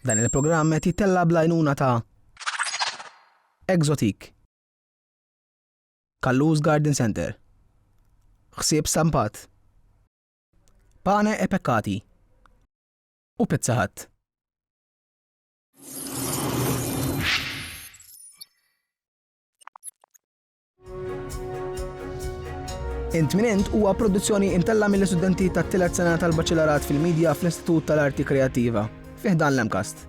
Dan il-programm qed jittella' bl-għajnuna ta' Exotique, Kallus Garden Centre, Ħsieb Stampat, Pane e Peccati u Pizza Hut. Intminent huwa produzzjoni imtella mill-istudenti tat-tielet sena tal-Baċelarat fil-Media fl-Istitut tal-Arti Kreattiva, fih dan l-MCAST.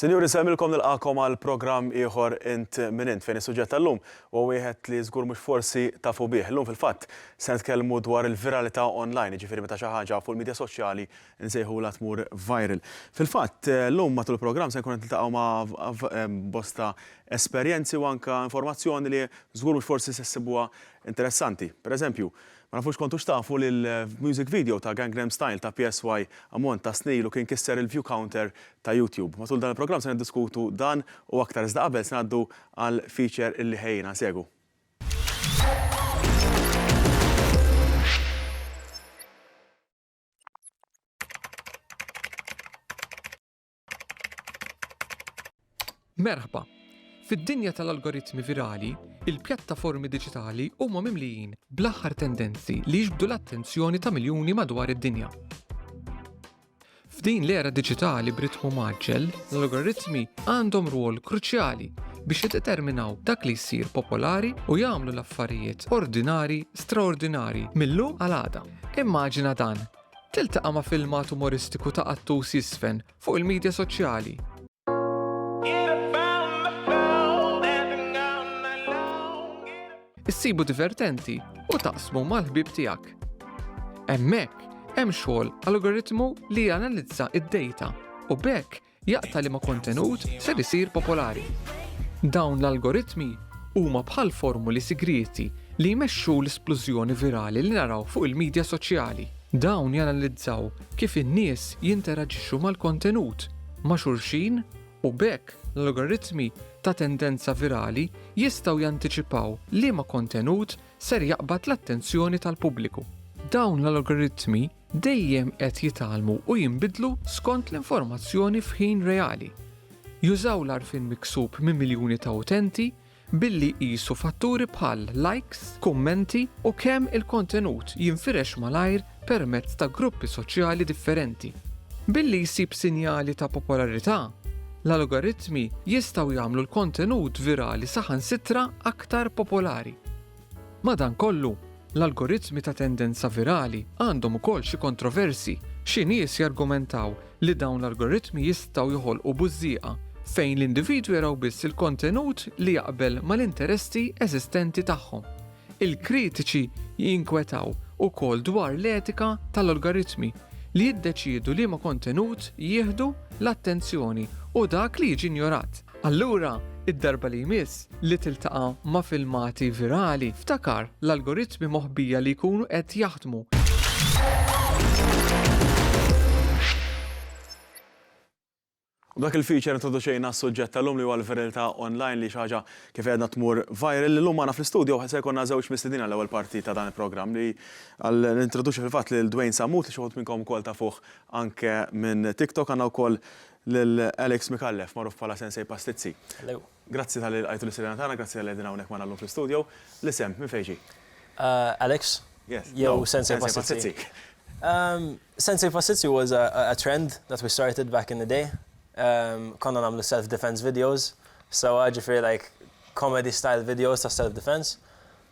Sinjuri, nsellmilkom nilqagħkom għal programm ieħor Int Min Int fejn is-suġġett tal-lum huwa wieħed li żgur mhux forsi tafu bih. Illum fil-fatt se nitkellmu dwar il-viralità online, jiġifieri meta xi ħaġa fuq il-midja soċjali nsejħulha tmur viral. Fil-fatt, illum matul il-programm se nkun qed niltaqgħu ma' bosta esperjenzi u anke informazzjoni li żgur mhux forsi se ssibuha interessanti. Pereżempju, Ma nafux kontux tafu li l-music video ta' Gangnam Style ta' PSY ammont ta' snin ilu kien kisser il-view counter ta' YouTube. Matul dan il-programm se niddiskutu dan u aktar iżda qabel se ngħaddu għal feature illi ħejjina. Segwu. Merħba! Fid-dinja tal-algoritmi virali, il-pjattaformi diġitali huma mimlijin bl-aħħar tendenzi li jiġbdu l-attenzjoni ta' miljuni madwar id-dinja. F'din l-era diġitali b'ritmu maġġel, l-algoritmi għandhom rwol kruċjali biex jiddeterminaw dak li jsir popolari u jagħmlu l-affarijiet ordinari straordinari mill-lum għal għada. Immaġina dan, Tiltaqa' ma' filmat umoristiku ta' Qattus Jizfen fuq il-midja soċjali. Issibu divertenti u taqsmu mal-ħbieb tiegħek. Hemmhekk hemm xogħol algoritmu li janalizza d-dejta u b'hekk Jaqta' liema kontenut ser isir popolari. Dawn l-algoritmi huma bħal formuli sigrieti li jmexxu l-isplużjoni virali li naraw fuq il-midja soċjali. Dawn janalizzaw kif in-nies jinteraġixxu mal-kontenut, ma' xulxin u b'hekk l-algoritmi ta' tendenza virali jistgħu jantiċipaw liema kontenut ser jaqbad l-attenzjoni tal-pubbliku. Dawn l-algoritmi Dejjem qed jitgħallmu u jinbidlu skont l-informazzjoni f'ħin reali. Jużaw l-għarfien miksub minn miljuni ta' utenti billi jqisu fatturi bħal likes, kummenti u kemm il-kontenut jinfirex malajr permezz ta' gruppi soċjali differenti. Billi jsib sinjali ta' popolarità, l-algoritmi jistgħu jagħmlu l-kontenut virali saħansitra aktar popolari. Madankollu, l-algoritmi ta' tendenza virali għandhom ukoll xi kontroversi. Xi nies jargumentaw li dawn l-algoritmi jistgħu joħolqu bużżieqa, fejn l-individwi jaraw biss il-kontenut li jaqbel mal-interessi eżistenti tagħhom. Il-kritiċi jinkwetaw ukoll dwar l-etika tal-algoritmi li jiddeċiedu liema kontenut jieħdu l-attenzjoni u dak li jiġi injorat. Allura, id-darba li jmiss li tiltaqa' ma' filmati virali, ftakar l-algoritmi moħbija li jkunu qed jaħdmu. B'dak il-feature introduċejna s-suġġett tal-lum li huwa l-viriltà online li xi ħaġa kif għedna tmur viral. Illum magħna fl-istudio se jkollna żewġ mistiednin għall-ewwel parti ta' dan il-programm li għal nintroduċi fil-fatt lil Dwayne Sammut li xi wħud minnkom ukoll tafuh anke minn TikTok. Għandna wkoll lil Alex Micallef, magħruf bħala Sensei Pastizzi. Grazzi talli lqajtu lis-sidina tagħna, grazzi talli qegħdin hawnhekk magħna llum fl-istudio. L-isem, minn fejn ġie? Alex? Yes. Jew Sensei Pastizzi? Sensei Pastizzi was a trend that we started back in the day. Konna nagħmlu self defense videos sewwa, ġifieri like comedy style videos ta' self defense.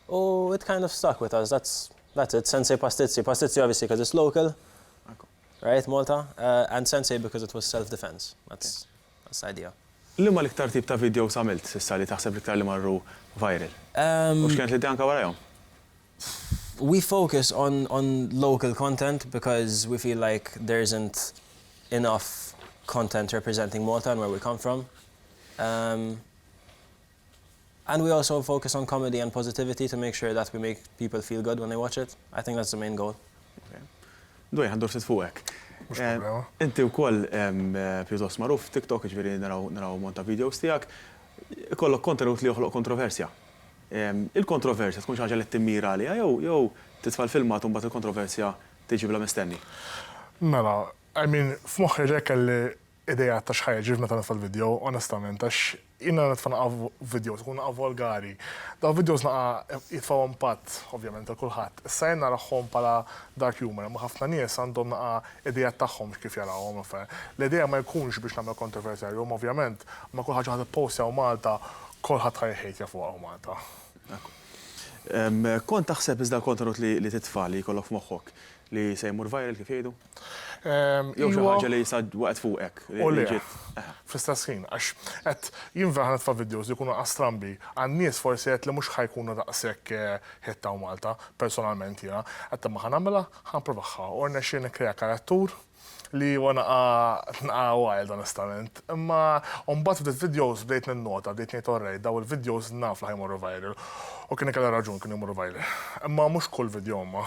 U it kind of stuck with us, that's it, Sensei Pastizzi. Pastizzi obviously 'cause it's local. Right Malta, and sensei because it was self defense, that's the idea. Liema l-iktar tip ta' videos għamilt s'issa li taħseb l-iktar li marru viral? U x'kienet l-idea anke warajhom? We focus on on local content because we feel like there isn't enough content representing Malta and where we come from. And we also focus on comedy and positivity to make sure that we make people feel good when they watch it. I think that's the main goal. Dwejjaq ndur ftit fuqek. Mhux problema. Inti wkoll pjuttost magħruf f'TikTok, jiġifieri naraw ammont ta' videos tiegħek. Ikollok kontenut li joħloq kontroversja. Il-kontroversja tkun xi ħaġa li timmira għaliha jew titfa' l-filmat u mbagħad il-kontroversja tiġi bla mistenni? Mela, I mean, f'moħħi rekelli ideat ta' x'ħa jiġri meta nitfa' l-video, onestament, għax jien meta nitfa' naqa' video tkun naqa' volgari. Dawn videos naqa' jitfgħu impatt, ovvjament, għal kulħadd. Issa jien narahhom bħala dark humor, imma ħafna nies għandhom naqa' ideat tagħhom x'kif jarawhom l-affarijiet. L-idea ma jkunx biex nagħmel kontroversjarju, imma ovvjament, ma' kull ħaġa ħa tippost jew Malta, kulħadd ħa jħejtja fuqha u Malta. Ekku. Kont taħseb iżda l-kontenut li titfa' li jkollok f'moħħok li se jmur viral kif jgħidu? Jew xi ħaġa li jisa waqt fuqek. U li fl-istess ħin, għax qed jinver ħanet fa' videos li jkunu astrambi għan-nies forsi qed li mhux ħajkunu daqshekk ħitta u Malta, personalment jiena, qed imma ħanagħmilha, ħanprovaħħa u rnexxi nikkrea karattur li huwa naqa' naqa' wild onestament. Imma mbagħad ftit videos bdejt ninnota, bdejt ngħid orrej, daw il-videos naf li ħajmorru viral. U kien ikelha raġun kienu jmorru viral. Imma mhux kull video imma.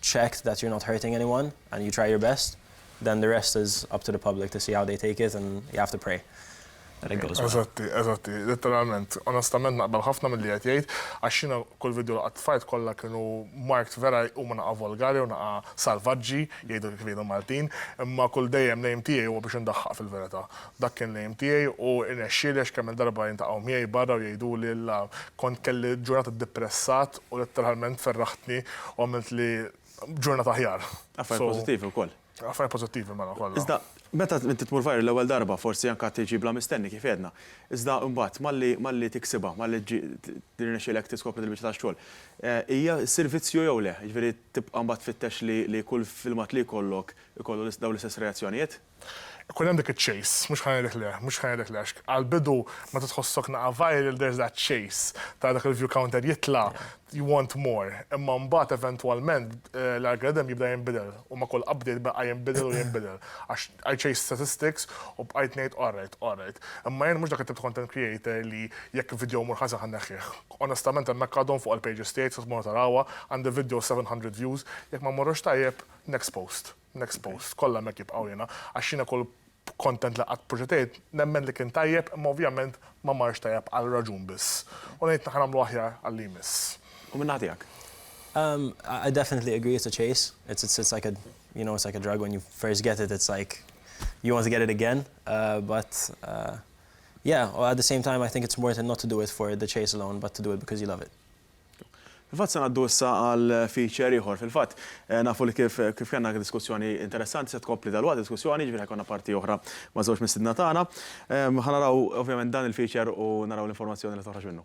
checked that you're not hurting anyone and you try your best then the rest is up to the public to see how they take it and you have to pray that it goes well. Eżatti, eżatti, letteralment. Onestament naqbel ħafna milli qed jgħid għax jiena kull video li qatt tfajt kollha kienu marked vera huma naqa' volgari u naqa' salvaġġi jgħidu kif jgħidu l-Maltin, imma kull dejjem l-aim tiegħi huwa biex indaħħaq fil-verità. Dak kien l-aim tiegħi u rnexxieli għax kemm-il darba jiltaqgħu miegħi barra u jgħiduli la kont kelli ġurnata dippressat u letteralment ferraħtni u għamiltli ġurnata aħjar. Affarijiet pożittivi wkoll. Affarijiet pożittivi mela kollha. Iżda meta inti tmur viral l-ewwel darba forsi anke tiġi bla mistenni kif għedna. Iżda imbagħad malli malli tiksibha, malli jirnexxielek tiskopri dil-biċċa tax-xogħol, hija ssir vizzju jew le? Jiġifieri tibqa' mbagħad tfittex li li kull filmat li jkollok ikollu dawn l-istess reazzjonijiet? Ikun hemm dik iċ-chase, mhux ħa ngħidlek le, mhux ħa ngħidlek le għax għall-bidu meta tħossok naqa' viral there's that chase, tara dak il-view counter jitla', you want more. Imma mbagħad eventwalment l-algorithm jibda jinbidel u ma' kull update baqa' jinbidel u jinbidel għax I chased statistics u bqajt ngħid alright, alright. Imma jien mhux dak it-tip ta' content creator li jekk video jmur ħażen ħa nneħħih. Onestament hemmhekk għadhom fuq il-pages tiegħi tistgħu tmorru tarawha, għandi video 700 views, jekk ma mmorrux tajjeb, next post. Next post, kollha hemmhekk jibqgħu jiena, għax jiena kull content li qatt proġetejt nemmen li kien tajjeb imma ovvjament ma marx tajjeb għal raġun biss. U ngħid naħa nagħmlu aħjar għal li jmiss. U min-naħa tiegħek? Umm, I definitely agree it's a chase, it's it's it's like a you know it's like a drug when you first get it it's like you want to get it again uh but uh yeah, at the same time I think it's worth it not to do it for the chase alone but to do it because you love it. Fil-fatt se ngħaddu issa għal feature ieħor. Fil-fatt nafu li kif kif kellna anke diskussjoni interessanti se tkompli dalwaqt id-diskussjoni, jiġifieri ħa jkollna parti oħra maż-żewġ mistiedna tagħna. Ħa naraw ovvjament dan il-feature u naraw l-informazzjoni li toħroġ minnu.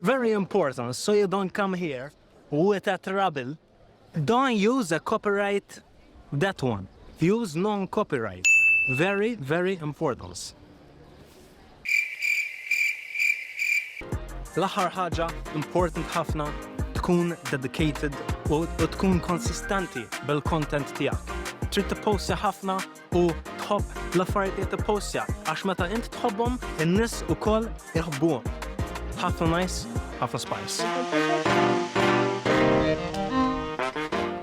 Very important, so you don't come here with that rubble. Don't use a copyright that one. Use non-copyright. Very, very important. L-aħħar ħaġa important ħafna tkun dedicated u tkun konsistenti bil-content tiegħek. Trid tipposti ħafna u tħobb l-affarijiet li tippostja għax meta int tħobbhom in-nies ukoll iħobbuhom. Ħafna nice, ħafna spice.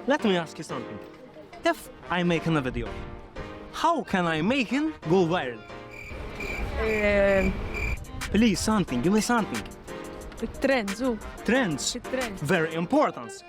Let me ask you something. If I make a video, how can I make it go viral? Eh, Please, something, give me something. Trends, u. Trends, Trends. very important.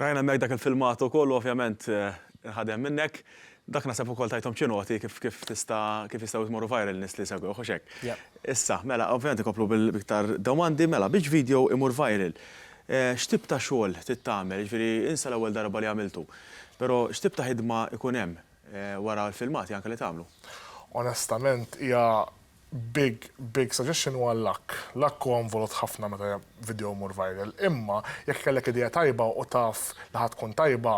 Rajna hemmhekk dak il-filmat ukoll u ovvjament inħadem minnek. Dak naħseb ukoll tajthom xi noti kif kif tista' kif jistgħu jmorru viral nies li jsegwewh, hux hekk? Yep. Issa, mela, ovvjament inkomplu b'iktar domandi, mela, biex video imur viral, x'tip ta' xogħol trid tagħmel? Jiġifieri insa l-ewwel darba li għamiltu. Però x'tip ta' ħidma jkun hemm wara l-filmati anke li tagħmlu? Onestament hija Big, big suggestion huwa l-luck. Luck huwa involut ħafna meta video jmur viral. Imma jekk kellek idea tajba u taf li ħa tkun tajba,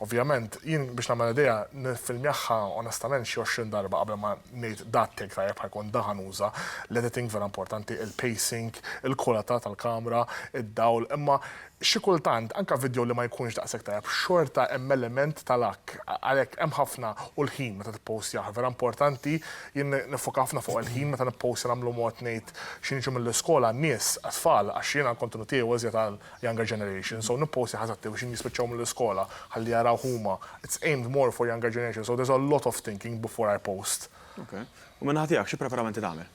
ovvjament, jien biex nagħmel idea niffilmjahha onestament xi għoxrin darba qabel ma ngħid da t-take tajjeb ħa jkun, da ħa nuża. L-editing vera importanti, il-pacing, il-kwalità tal-kamra, id-dawl, imma Xi kultant, anke vidjow li ma jkunx daqshekk tajjeb, xorta hemm element ta' luck. Għalhekk hemm ħafna u l-ħin meta tippowstjah. Vera importanti, jien niffoka ħafna fuq il-ħin meta nippowstja nagħmlu mod ngħid xi niġu mill-iskola għan-nies, għat-tfal, għax jiena l-kontenut tiegħi huwa iżjed għal younger generation, so nippowstjah eżatt fi ħin jispiċċaw mill-iskola ħalli jarawh huma. It's aimed more for younger generation, so there's a lot of thinking before I post. Ok. U min-naħa tiegħek xi preparamenti tagħmel?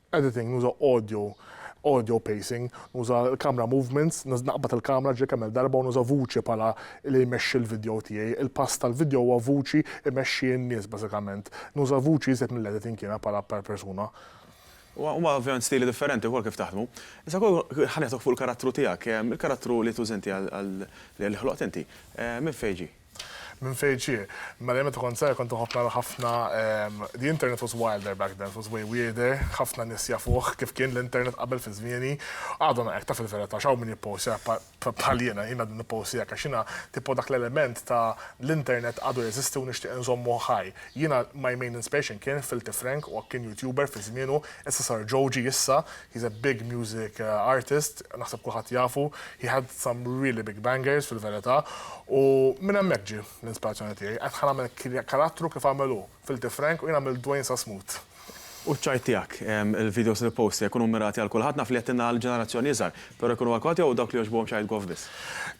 Editing, nuża audio, audio pacing, nuża l-camera movements, naqbad il-kamra ġie kemm-il darba u nuża vuċi bħala li jmexxi l-video tiegħi. Il-pass tal-video huwa vuċi imexxi n-nies bażikament. Nuża vuċi iżjed mill-editing jiena bħala persuna. Huma ovvjament stili differenti wkoll kif taħdmu. Issa wkoll ħa nieħduk fuq il-karattru tiegħek. Il-karattru li tuża inti għal li ħloqt inti, minn fejn ġie? Minn fejn ġie? Mela jien meta kont żgħir kont inħobb nara ħafna the internet was wilder back then, it was way weirder, ħafna nies jafuh kif kien l-internet qabel fi żmieni. Għadhom hekk taf il-verità x'hawn min jippostja bħal jiena, jien għadni nippostja hekk għax jiena tipo dak l-element ta' l-internet għadu jeżisti u nixtieq inżommu ħaj. Jiena my main inspiration kien Filthy Frank u hekk kien YouTuber fi żmienu, issa sar Joji issa, He's a big music artist, naħseb kulħadd jafu, he had some really big bangers fil-verità, u minn hemmhekk ġie l-inspirazzjoni tiegħi. Għedt ħa nagħmel karattru kif għamel hu f'Ilti Frank u jien għamilt Dwayne sa smut. U ċ-ċajt tiegħek, il-videos li tpost se jkunu mmirati għal kulħadd, naf li qed tingħa għall-ġenerazzjoni iżgħar, però jkunu għal kulħadd jew dawk li jogħġbuhom ċajt goff biss?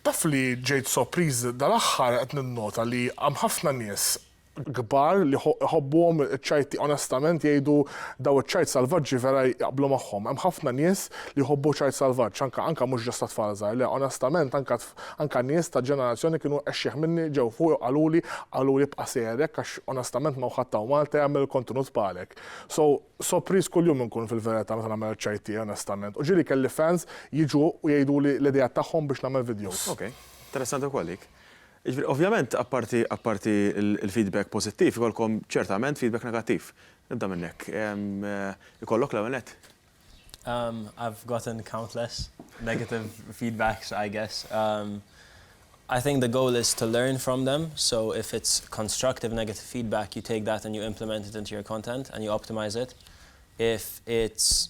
Taf li ġejt sopriż dal-aħħar qed ninnota li hemm ħafna nies kbar li jħobbuhom iċ-ċajt onestament jgħidu daw iċ-ċajt salvaġġi vera jaqblu magħhom. Hemm ħafna nies li jħobbu ċajt salvaġġ, anke anke mhux ġast għat-tfal żgħar, le onestament anke anke nies ta' ġenerazzjoni kienu exxieħ minni ġew fuqi u qaluli qaluli ibqa' sejjer hekk għax onestament ma' ħadd hawn Malta jagħmel il-kontenut bħalek. So sopriż kuljum inkun fil-verità meta nagħmel iċ-ċajt tiegħi onestament. U ġieli kelli fans jiġu u jgħiduli l-ideat tagħhom biex nagħmel videos. Ok. Interessanti wkoll dik. Jiġifieri ovvjament apparti apparti l-feedback pożittiv ikollkom ċertament feedback negattiv. Nibda minn hekk. Ikollok l-ewwel nett? Umm I've gotten countless negative feedbacks I guess umm I think the goal is to learn from them so if it's constructive negative feedback you take that and you implement it into your content and you optimise it. If it's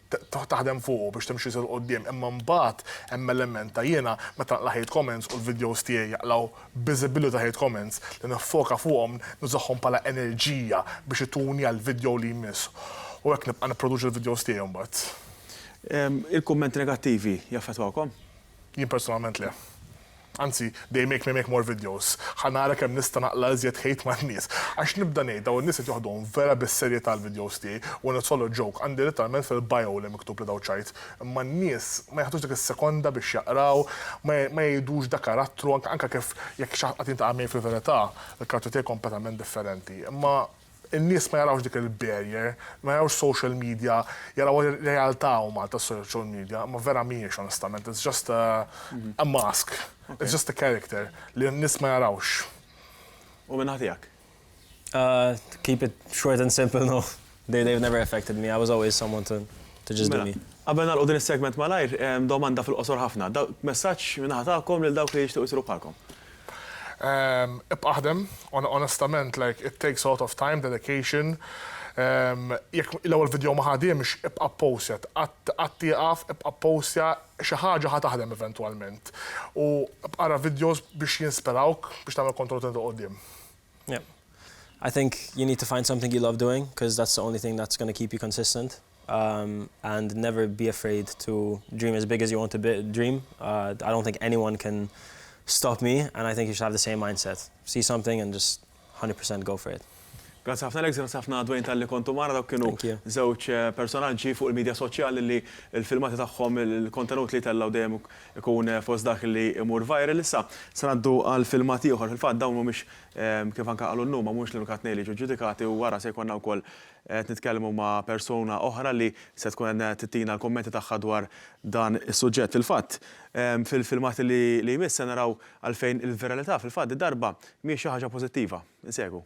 taħdem fuqu biex timxi iżjed 'l quddiem imma mbagħad hemm element ta' jiena meta naqla' hate comments u l-videos tiegħi jaqlgħu biżibilità ta' hate comments li niffoka fuqhom nużahom bħala enerġija biex ituni għall-video li jmiss u hekk nibqa' nipproduċi l-videos tiegħi mbagħad. Il-kummenti negattivi jaffettwawkom? Jien personalment le. Anzi, they make me make more videos. Ħa nara kemm nista' naqla' iżjed hate man-nies. Għax nibda ngħid dawn in-nies qed joħduhom vera bis-serjetà l-videos tiegħi, when it's all a joke, għandi litteralment fil-bio li miktub li daw ċajt. Imma n-nies ma jaħdux dik is-sekonda biex jaqraw, ma ma jgħidux da karattru, anke anke kif jekk xi ħadd qatt jiltaqa' miegħi fil-verità, il-karattru tiegħi kompletament differenti. Imma. In-nies ma jarawx dik il-barrier, ma jarawx social media, jaraw ir-realtà huma ta' social media, imma vera mhijiex onestament, it's just a a mask, it's just a character li n-nies ma jarawx. U min-naħa tiegħek? To keep it short and simple, no. They they've never affected me, I was always someone to to just do me. Mela, qabel nagħlqu din is-segment malajr, domanda fil-qosor ħafna. Messaġġ min-naħa tagħkom lil dawk li jixtiequ jsiru bħalkom. Ibqa' aħdem, onestament like it takes a lot of time, dedication, jekk l-ewwel video ma ħadimx, ibqa' ppostja, qatt tieqaf, ibqa' ppostja, xi ħaġa ħa taħdem eventwalment. U bqa' ara videos biex jinspirawk biex tagħmel kontroll ta' 'il quddiem. Yep. I think you need to find something you love doing, 'cause that's the only thing that's gonna keep you consistent. and never be afraid to dream as big as you want to dream I don't think anyone can stop me and I think you should have the same mindset see something and just 100% go for it. Grazzi ħafna Alex, grazzi ħafna Dwayne talli kontu magħna dawk kienu żewġ personaġġi fuq il-media soċjali li l-filmati tagħhom il-kontenut li jtellgħu dejjem ikun fost dak li jmur viral. Issa se ngħaddu għal filmat ieħor, fil-fatt dawn mhumiex kif anke qalu llum ma mhumiex l-unika tnejn li jiġu ġġudikati u wara se jkollna wkoll Qed nitkellmu ma' persuna oħra li se tkun qed ttina l-kummenti tagħha dwar dan is-suġġett. Fil-fatt, fil-filmat li jmiss se naraw għalfejn il-viralità fil-fatt did-darba mhijiex xi ħaġa pożittiva. Insegwu.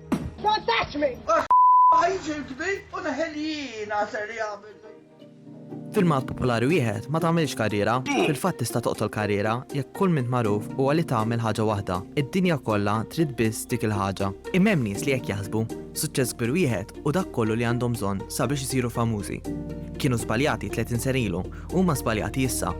Don't touch me! Għajġi l-kbir u neħel jiena ser jagħmel. Filmat popolari wieħed ma tagħmilx karriera, fil-fatt tista' toqtol karriera jekk kull min magħruf huwa li tagħmel ħaġa waħda. Id-dinja kollha trid biss dik il-ħaġa. Imma hemm nies li hekk jaħsbu, suċċess kbir wieħed u dak kollu li għandhom bżonn sabiex isiru famużi. Kienu żbaljati 30 sena ilu Huma żbaljati issa.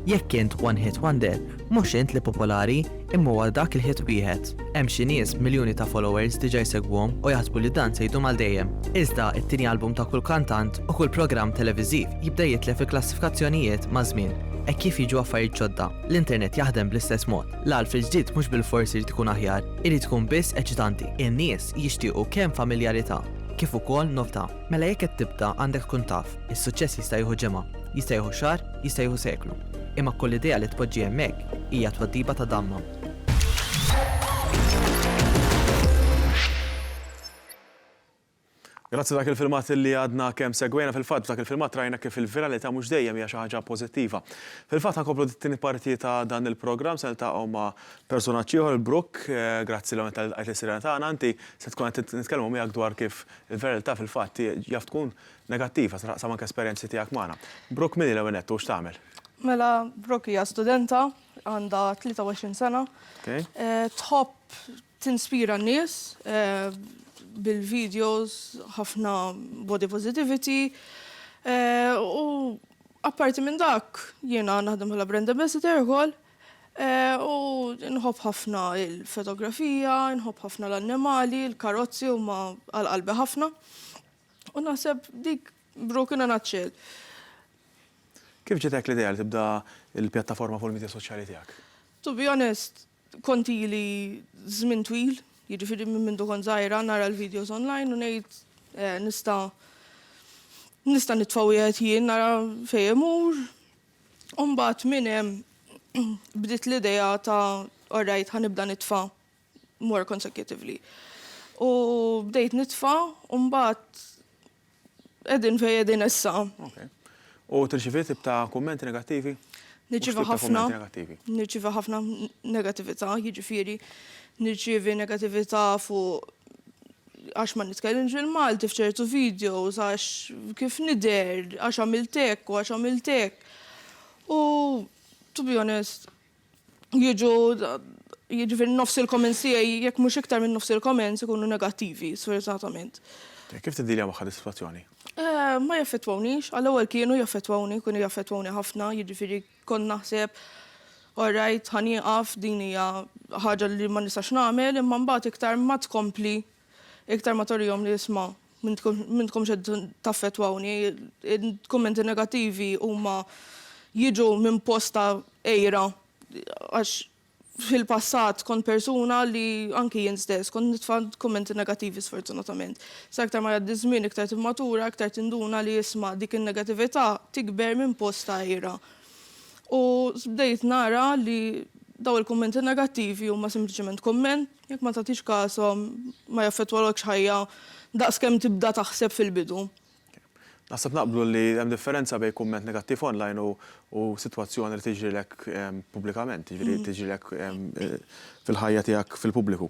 Jekk int one hit wonder, mhux int li popolari, imma huwa dak il-hit wieħed. Hemm xi nies b'miljuni ta' followers diġà jsegwuhom u jaħsbu li dan se jdum għal dejjem. Iżda t-tieni album ta' kull kantant u kull programm televiżiv jibda jitlef il-klassifikazzjonijiet maż-żmien. Hekk kif jiġu affarijiet ġodda, l-internet jaħdem bl-istess mod. L-għalf il-ġdid mhux bilfors irid ikun aħjar, irid ikun biss eċitanti. In-nies jixtiequ kemm familjarità kif ukoll novtà. Mela jekk qed tibda għandek tkun taf, is-suċċess jista' jieħu ġimgħa, jista' jieħu xahar, jista' jieħu seklu. Imma kull idea li tpoġġi hemmhekk hija tweddibha ta' damma. Grazzi dak il-filmat li għadna kemm segwejna fil-fatt dak il-filmat rajna kif il-viralità mhux dejjem hija xi ħaġa pożittiva. Fil-fatt ħankomplu dit-tieni parti ta' dan il-programm se niltaqgħu ma' personaġġ ieħor il-Brook, eh, grazzi l-għonet tal-qajt is-sirena tagħna, anti se tkun qed nitkellmu miegħek dwar kif Il-verità fil-fatt hi jaf tkun negattiva, tista' taqsam anke esperjenzi tiegħek magħna. Brooke min hi l-ewwel nett u x'tagħmel? Mela Brooke hija studenta, għandha 23 sena. Tħobb tinspira n-nies bil-videos, ħafna body positivity u apparti minn dak jiena naħdem bħala brand ambassador ukoll. U nħobb ħafna il-fotografija, nħobb ħafna l-annimali, l-karozzi huma għal qalbi ħafna. U naħseb dik broken in a nutshell. Kif ġietek l-idea li tibda l-pjattaforma fuq il-midja soċjali tiegħek? To be honest, kont ili żmien twil, jiġifieri minn mindu kont żgħira nara l-videos online u ngħid nista' nista' nitfa' wieħed jien nara fejn imur, U mbagħad minn hemm bdiet l-idea ta' all right ħa nibda nitfa' more consecutively. U bdejt nitfa' u mbagħad qegħdin fejn qegħdin issa. U tirċievi tip ta' kummenti negattivi? Nirċievi ħafna. Nirċievi ħafna negattività, jiġifieri nirċievi negattività fuq għax ma nitkellimx bil-Malti f'ċertu videos, għax kif nidher, għax għamilt hekk u għax għamilt hekk. U to be honest, jiġu jiġifieri nofs il-comments tiegħi jekk mhux iktar minn nofs il-comments ikunu negattivi, sfortunatament. Kif tiddealja magħha dis-sitwazzjoni? Ma jaffettwawnix, għall-ewwel kienu jaffettwawni, kienu jaffettwawni ħafna, jiġifieri Kont naħseb, all right, ħa nieqaf, din hija ħaġa li ma nistax nagħmel, imma mbagħad iktar ma tkompli, iktar ma torihom li isma' m'intkomx qed taffettwawni, il-kummenti negattivi huma jiġu minn post ta' għira għax fil-passat kont persuna li anki jien stess kont nitfa' kummenti negattivi sfortunatament. Sa iktar ma jgħaddi ż-żmien iktar timmatura, iktar tinduna li isma' dik in-negatività tikber minn post ta' għira. U bdejt nara li dawn il-kummenti negattivi huma sempliċement kumment, jekk ma tagħtix kashom ma jaffettwalokx ħajja daqs kemm tibda taħseb fil-bidu. Naħseb naqblu li hemm differenza bejn kumment negattiv online u u sitwazzjoni li tiġrilek pubblikament, jiġifieri tiġrilek fil-ħajja tiegħek fil-pubbliku.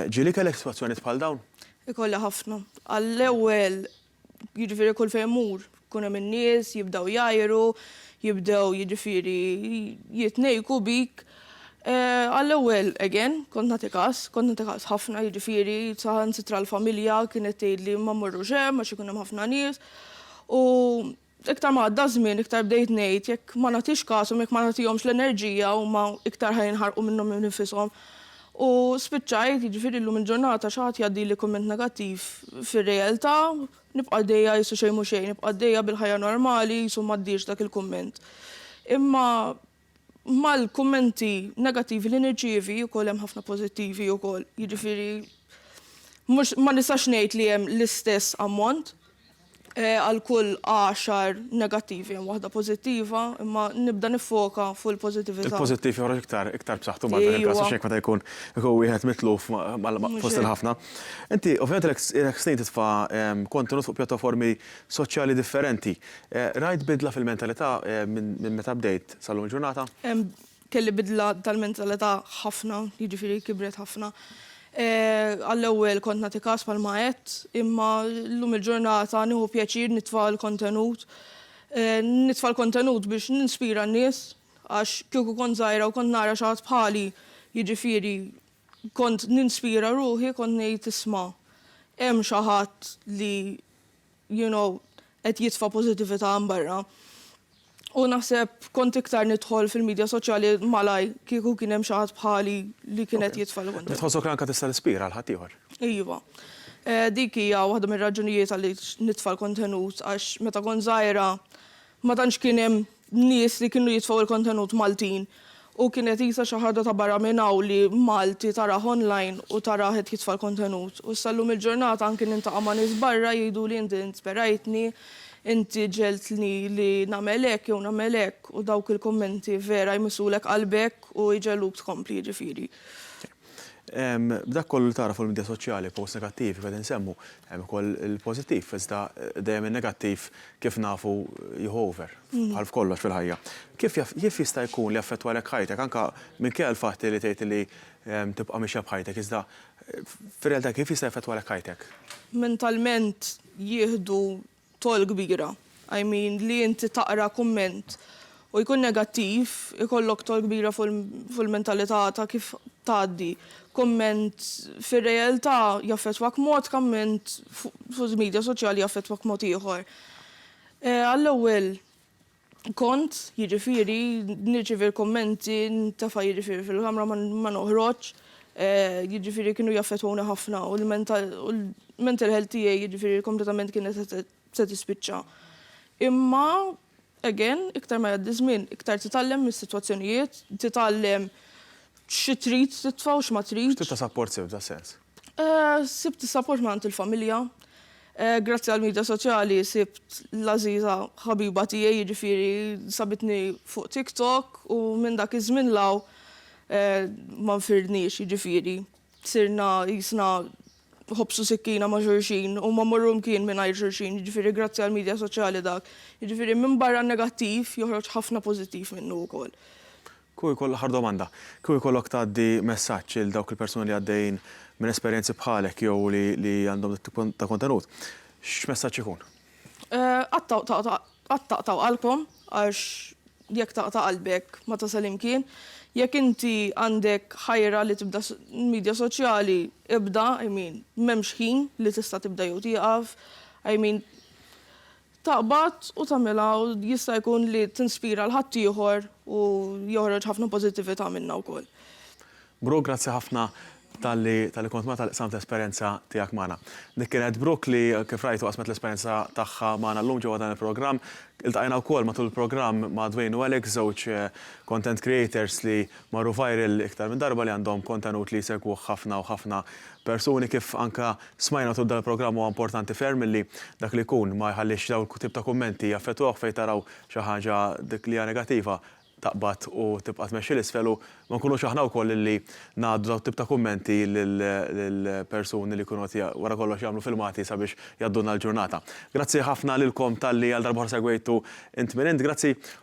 Ġieli kellek sitwazzjonijiet bħal dawn? Ikolli ħafna. Għall-ewwel, jiġifieri kull fejn mmur, ikun hemm in-nies, jibdew jgħajru, jibdew jiġifieri jitnejjku bik. Għall-ewwel, again, kont nagħti kas, kont nagħti kas ħafna jiġifieri saħansitra l-familja kienet tgħidli ma mmorrux hemm għax ikun hemm ħafna nies. U iktar ma għadda żmien iktar bdejt ngħid jekk ma nagħtix kashom, jekk ma nagħtihomx l-enerġija huma iktar ħa jinħarqu minnhom innifishom. U spiċċajt, jiġifieri llum il-ġurnata xi ħadd jgħaddili kumment negattiv fir-realtà nibqa' għaddejja qisu xejn mhu xejn, nibqa' għaddejja bil-ħajja normali qisu m'għaddiex dak il-kumment. Imma mal-kummenti negattivi li nirċievi ukoll hemm ħafna pożittivi ukoll. Jiġifieri mhux ma nistax ngħid li hemm l-istess ammont eh, għal kull għaxar negattivi hemm waħda pożittiva, imma nibda nifoka fuq il-pożittività. Il-pożittiv joħroġ iktar iktar b'saħħtu ma' dan il-każ xejn meta jkun ikun wieħed mitluf fost il-ħafna. Inti ovvjament ilek snin titfa' kontenut fuq pjattaformi soċjali differenti. Rajt bidla fil-mentalità minn meta bdejt sal-lum il-ġurnata? Kelli bidla tal-mentalità ħafna, jiġifieri kibret ħafna. Għall-ewwel kont nagħti kas bħalma għedt, imma llum il-ġurnata nieħu pjaċir nitfa' l-kontenut. Nitfa' l-kontenut biex ninspira n-nies għax kieku kont żgħira u kont nara xi ħadd bħali, jiġifieri kont ninspira ruħi kont ngħid isma' hemm xi ħadd li you know, qed jitfa' pożitività hemm barra. U naħseb kont iktar nidħol fil-midja soċjali malajr kieku kien hemm xi ħadd bħali li kien qed jitfa' l-kuntent. Tħossok li anke tista' tispira lil ħaddieħor? Iva. Dik hija waħda mir-raġunijiet għaliex nitfa' l-kontenut għax meta kont żgħira Ma tantx kien hemm nies li kienu jitfgħu il-kontenut Maltin u kienet qisha xi ħaġa ta' barra minn hawn li Malti tarah online u tarah qed jitfa' l-kontenut. U issa llum il-ġurnata anki nintaqa' ma' nies barra jgħiduli inti insperajtni, inti ġegħeltni li nagħmel hekk jew nagħmel hekk u dawk il-kummenti vera jmissulek qalbek u jġegħluk tkompli jiġifieri. B'dak kollu li tara fuq il-midja soċjali, posts negattivi qegħdin insemmu, hemm ukoll il-pożittiv, iżda dejjem in-negattiv kif nafu jieħu over, bħal f'kollox fil-ħajja. Kif kif jista' jkun li affettwalek ħajtek, anke minkejja l-fatt li tgħid li tibqa' mixja b'ħajtek, iżda fir-realtà kif jista' jaffettwalek ħajtek? Mentalment jieħdu togħol kbira. I mean li inti taqra kumment u jkun negattiv ikollok togħol kbira fuq il-mentalità ta' kif tgħaddi kumment fir-realtà jaffettwak b'mod kumment fuq il-midja soċjali jaffettwak b'mod ieħor. Għall-ewwel kont, jiġifieri nirċievi l-kummenti ntefa' jiġifieri fil-kamra ma noħroġx, jiġifieri kienu jaffettwawni ħafna u l-mental health tiegħi jiġifieri kompletament kienet se tispiċċa. Imma again iktar ma jgħaddi ż-żmien iktar titgħallem mis-sitwazzjonijiet, titgħallem xi trid titfa' u x'ma tridx. X'tip ta' sapport sibt f'das-sens? Eh, sibt is-sapport minn il-familja. Eh, grazzi għal media soċjali sibt l-aziza ħabiba tiegħi jiġifieri sabitni fuq TikTok u minn dak iż-żmien law eh, ma nfirniex jiġifieri. Sirna jisna ħobsu sikkina ma' xurxin u ma morru mkien mingħajr xurxin, jiġifieri grazzi għal media soċjali dak. Jiġifieri minn barra negattiv joħroġ ħafna pożittiv minnu wkoll. Kieku jkollok, l-aħħar domanda, kieku jkollok tgħaddi messaġġ lil dawk il-persuni li għaddejjin minn esperjenzi bħalek jew li għandhom dat-tip ta' kontenut, x'messaġġ ikun? Qatt taqtgħu qalbkom għax jekk taqta' qalbek ma tasal imkien. Jekk inti għandek ħajra li tibda midja soċjali, ibda, I mean, m'hemmx ħin li tista' tibda jew tieqaf, I mean, taqbad u tagħmilha u jista' jkun li tinspira 'l ħaddieħor u joħroġ ħafna pożittività minnha wkoll. Brooke grazzi ħafna talli talli kont magħna talli qsamt l-esperjenza tiegħek magħna. Dik kienet Brooke li kif rajtu qasmet l-esperjenza tagħha magħna llum ġewwa dan il-programm. Iltqajna wkoll matul il-programm ma' Dwayne u Alex żewġ content creators li marru viral iktar minn darba li għandhom kontenut li jsegwuh ħafna u ħafna persuni kif anke Smajna tul dan il-programm huwa importanti ferm illi dak li jkun ma jħallix dawn il-tip ta' kummenti jaffettwawh fejn taraw xi ħaġa dik li hija negattiva taqbad u tibqa' tmexxi 'l isfel u ma nkunux aħna wkoll illi ngħaddu dawn it-tip ta' kummenti lil persuni li jkunu qed wara kollox jagħmlu filmati sabiex jgħaddulna l-ġurnata. Grazzi ħafna lilkom talli għal darba oħra segwejtu Int Min Int. Grazzi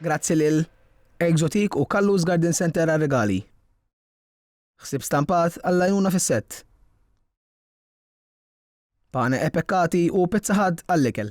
Grazzi lil Exotique u Kallus Garden Center għar-rigali. Ħsib stampat għall-għajnuna fis-sett. Pane e pekkati u pizza ħadd għall-ikel.